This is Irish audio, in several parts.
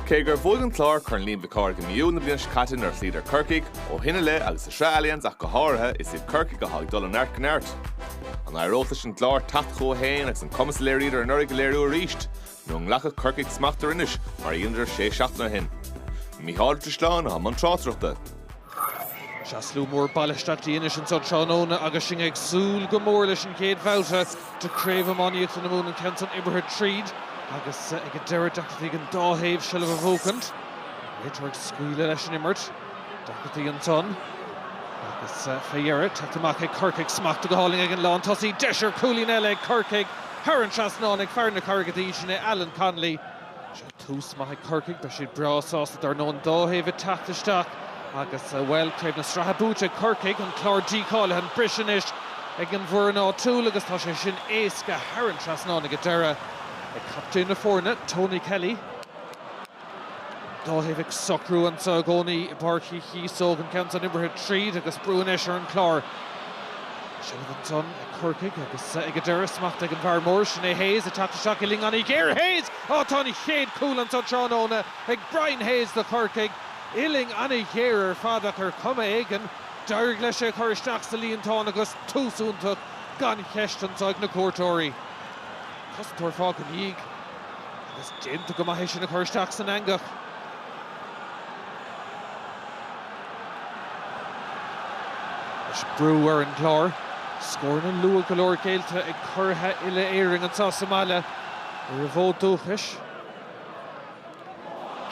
Cé gur bhuaigh an Clár Corn Liam Mhic Cárthaigh i mí Iúil na bliana seo caite nuair a chloídar Corcaigh, ó shin i leith agus sa Sraith Allianz ach go háirithe, is iad Corcaigh atá ag dul ó neart go neart. An éireoidh leis an gClár teacht chucu féin agus an cumas a léiríodar anuraidh a léiriú arís? Nó an nglacfadh Corcaigh smacht ar Inis mar a dheineadar sé seachtaine ó shin? Micheál Ó Drisleáin i mbun na tráchtaireachta. Sea slua mór bailithe isteach in Inis anso tráthnóna agus sinn ag súil go mór leis an gcéad bhabhta de Craobh Iománaíochta na Mumhan an ceann san imeartha tríd agus ag an deireadh deacrachtaí ag an dá thaobh seilbh a bhuachaint. Réiteoir ag scaoileadh leis an imirt. Deacrachtaí ansan agus fé dheireadh tagtha amach ag Corcaigh. Smacht go hálainn ag an lántosaí. Deis ar chúilín eile ag Corcaigh thar an trasnán ag fear na Carraige Duibhe sin é, Alan Connolly. Tús maith ag Corcaigh, beidh siad breá sásta dar ndóigh an dá thaobh ag teacht isteach agus, bhuel, craobh na sraithe buaite ag Corcaigh, an clár dícháilithe an preas anois ag an bhfoireann áitiúil agus tá sé sin éasca thar an trasnán ag an deireadh ag captaen na foirne, Tony Kelly. An dá thaobh ag socrú anseo i gcónaí i bPáirc Uí Chíosóg, an ceann san imeartha tríd agus brú anois ar an gclár. Seilbh ansan ag Corcaigh agus ag an deireadh smacht ag an bhfear mór, sin é Hayes ag teacht isteach uillinn an-ghéar, Hayes! Ó tá an chéad cúl anso tráthnóna ag Brian Hayes do Chorcaigh, uillinn an-ghéar ar fad ach ar chuma éigin d'éirigh leis é a chur isteach sa líontán agus tús iontach gan cheist anso ag na cuairteoirí. Cosantóir fágtha in a dhiaidh agus déanta go maith é sin a chur isteach san eangach. Is brú ar an gClár. Scóranna luath go leor géillte ag curaithe uile Éirinn anso sa mbaile ar a bhfód dúchais.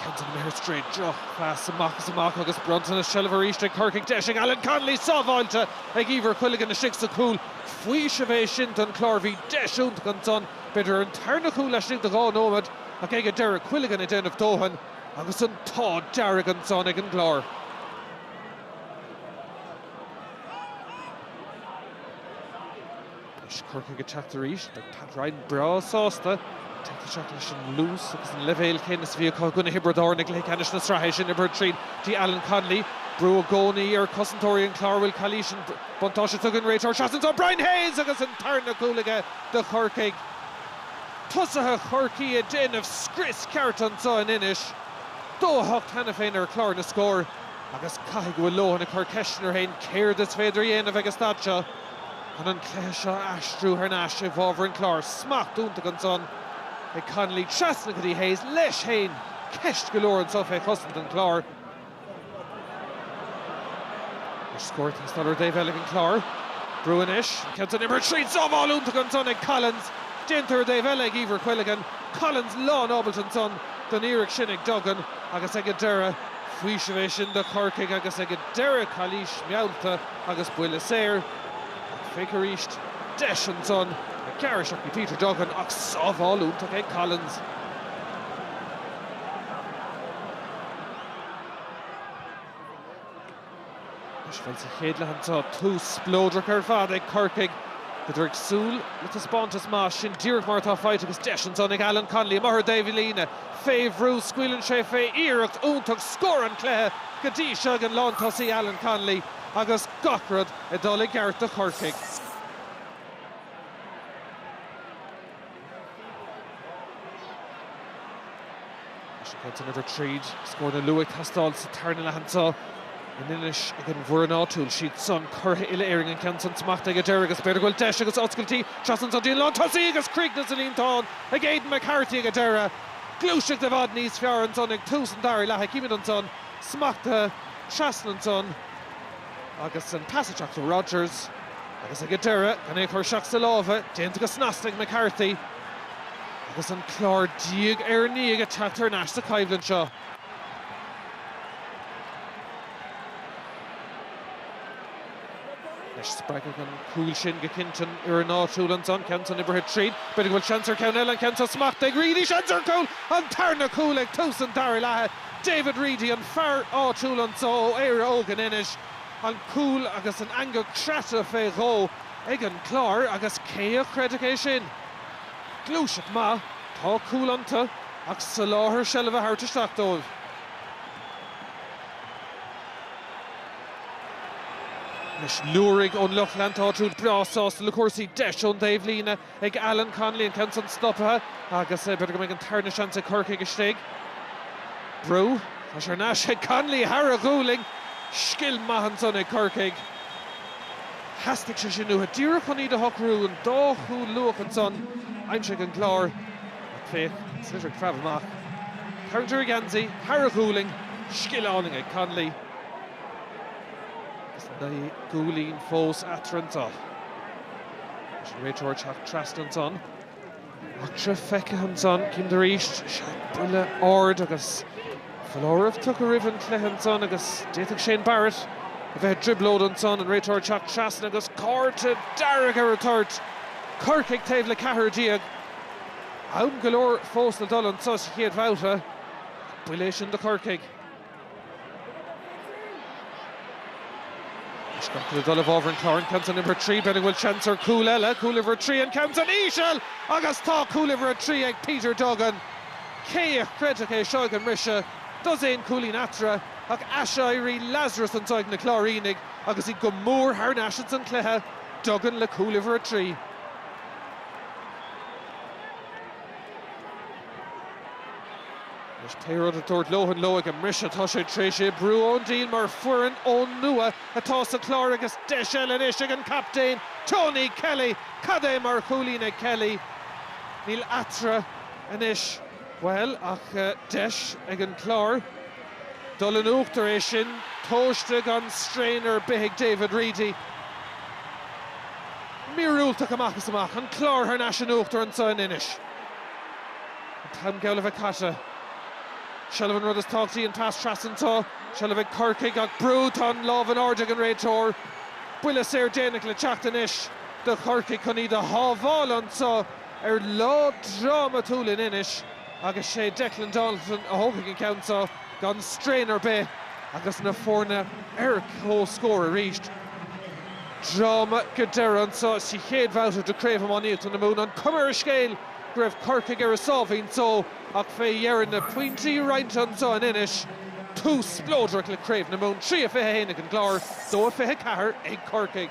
Ceann san imeartha tríd drochphas amach is amach agus bronntanas seilbh arís ag Corcaigh. Deis ag Alan Connolly sábháilte ag Eibhear Quilligan istigh sa cúl. Faoiseamh é sin don Chlár. Bhí deis iontach ansan, b'fhéidir an tarna chúl laistigh de dhá nóiméad, ach ag an deireadh Quilligan ag déanamh dóthain. Agus an t-ádh dearg ansan ag an gClár. Anois Corcaigh ag teacht arís. Beidh Pat Ryan breá sásta teacht isteach leis an luas agus an leibhéal céanna is a bhí acu i gcoinne Thiobraid Árann i gcluiche ceannais na sraithe. Sin imeartha tríd go dtí Alan Connolly. Brú i gcónaí ar chosantóirí an Chláir an bhfuil calaois ansan buntáiste tugtha ag an réiteoir. Seasann ansan Brian Hayes agus an tarna cúl aige do Chorcaigh. tosaithe Chorcaí ag déanamh scrios ceart anso in Inis dó a hocht cheana féin ar chlár na scór agus caithfidh go bhfuil Lohan ag cur ceisteanna air féin céard is féidir a dhéanamh ag an staid seo chun an cluiche seo a aistriú thar n-ais i bhfábhar an Chláir. Smacht iontach ansan ag Connolly trasna go dtí Hayes, leis féin, ceist go leor anso fé chosaint an Chláir. Ar scór an sliotar taobh eile ag an Clár. Brú anois, an ceann san imeartha tríd, sábháil iontach ansan ag Collins. Déanta ar taobh eile ag Eibhear Quilligan. Collins lán ábalta ansan don iarracht sin ag Duggan agus ag an deireadh. Faoiseamh é sin do Chorcaigh agus ag an deireadh calaois meallta agus buille saor. Féach arís. Deis ansan ag gearradh isteach ag Peter Duggan ach sábháil iontach ag Collins. Is bhfuil sa chéad leath anseo tús spleodrach ar fad ag Corcaigh. Bhíodar ag súil le taispeántas maith, sin díreach mar atá faighte agus deis ansan ag Alan Connolly amach ar thaobh líne fé bhrú. Scaoileann sé fé iarracht iontach scór an cluiche go dtí seo ag an lántosaí Alan Connolly agus gach rud ag dul i gceart do Chorcaigh. An ceann san oibrithe tríd scóranna luatha ag teastáil sa tarna leath anseo in Inis ag an bhfoireann áitiúil. Siadsan curaithe uile Éirinn an ceann san smachtaithe ag an deireadh agus b'fhéidir go bhfuil deis agus oscailtí trasna ansan go dtí an lántosaí agus críochnaithe sa líontán ag Aidan McCarthy ag an deireadh. Gluaiseacht i bhfad níos fearr ansan ag tús an dara leatha. Címid ansan. Smachtaithe. Trasna ansan. Agus an pas ag teacht ó Rodgers agus ag an deireadh gan é chur isteach sa lámha, déanta go snasta ag McCarthy. Agus an Clár diaidh ar ndiaidh ag teacht thar n-ais sa choimhlint seo. Anois spreagfadh an cúl sin go cinnte an fhoireann áitiúil ansan, ceann san oibrithe tríd. B'fhéidir go bhfuil seans ar cheann eile, an ceann san smachtaithe ag Reidy, seans ar chúl, an tarna cúl ag tús an dara leatha! David Reidy, an fear áitiúil anseo ó Éire Óg in Inis, an cúl agus an eangach croite fé dhó ag an gClár agus cé a chreidfeadh é sin? Gluaiseacht maith, tá cúl iontu ach soláthar seilbhe a thabhairt isteach dóibh. Anois, liúirigh ón lucht leanta áitiúil breá sásta le cúrsaí deis ón dtaobhlíne. ag Alan Connolly, an ceann san stoptha agus b'fhéidir go mbeidh an tarna seans ag Corcaigh istigh. Brú, tá sé thar n-ais ag Connolly, thar a ghualainn! Scil maith ansan ag Corcaigh. Theastaigh sé sin uathu, díreach chun iad a shocrú, an dá chúl luath ansan a aimsigh an Clár. Ach féach, Sliotar ag preabadh amach, tarraingt ar a gheansaí, thar a ghualainn, scil álainn ag Connolly. Agus naoi gcúilín fós eatarthu anseo. Anois an réiteoir teacht trasna ansan. Eachtra feicthe ansan, címid arís, sea, buille ard agus foláireamh tugtha roimh an cluiche ansan agus d'fhéadfadh Shane Barrett a bheith i dtrioblóid ansan, an réiteoir teacht trasna agus cárta dearg ar an toirt! Corcaigh taobh le ceathrar déag. Am go leor fós le dul anso sa chéad bhabhta, ach buille é sin do Chorcaigh. Scata le dul i bhfábhar an Chláir, an ceann san uimhir 3, b'fhéidir go bhfuil seans ar chúl eile, cúl uimhir 3, an ceann san íseal agus tá cúl uimhir 3 ag Peter Duggan. Cé a chreidfeadh é seo ag an mbriseadh, dosaen cúilín eatarthu ach aiséirí Lazarus anseo ag na Cláirínigh agus iad go mór thar n-ais ins an chluiche, Duggan le cúl uimhir 3. Anois pé rud a dúirt Lohan leo ag an mbriseadh tá sé tar éis oibriú an-diail mar foireann ón nua atá sa Chlár agus deis eile anois ag an gcaptaen Tony Kelly. Cad é mar chúilín ag Kelly. Níl eatarthu anois, bhuel, ach deis ag an gClár dul in uachtar. É sin tomhaiste gan straidhn ar bith ag David Reidy. Míorúilteach amach is amach. An Clár thar n-ais in uachtar anseo in Inis. An t-am geall le bheith caite. Seilbh an rud is tábhachtaí an pas trasna anseo. Seilbh ag Corcaigh ach brú. Tá an lámh in airde ag an réiteoir. Buille saor déanach le teacht anois do Chorcaigh chun iad a shábháil anseo ar lá drámatúil in Inis agus sé Declan Dalton a thógfaidh an ceann seo gan straidhn ar bith agus na foirne ar comhscór arís. dráma go deireadh anseo sa chéad bhabhta de Chraobh Iománaíochta na Mumhan. An cuma ar an scéal go raibh Corcaigh ar a sáimhín só ach fé dheireadh na pointí roinnte anseo in Inis, tús spleodrach le Craobh na Mumhan, 3-21 ag an gClár, 2-24 ag Corcaigh.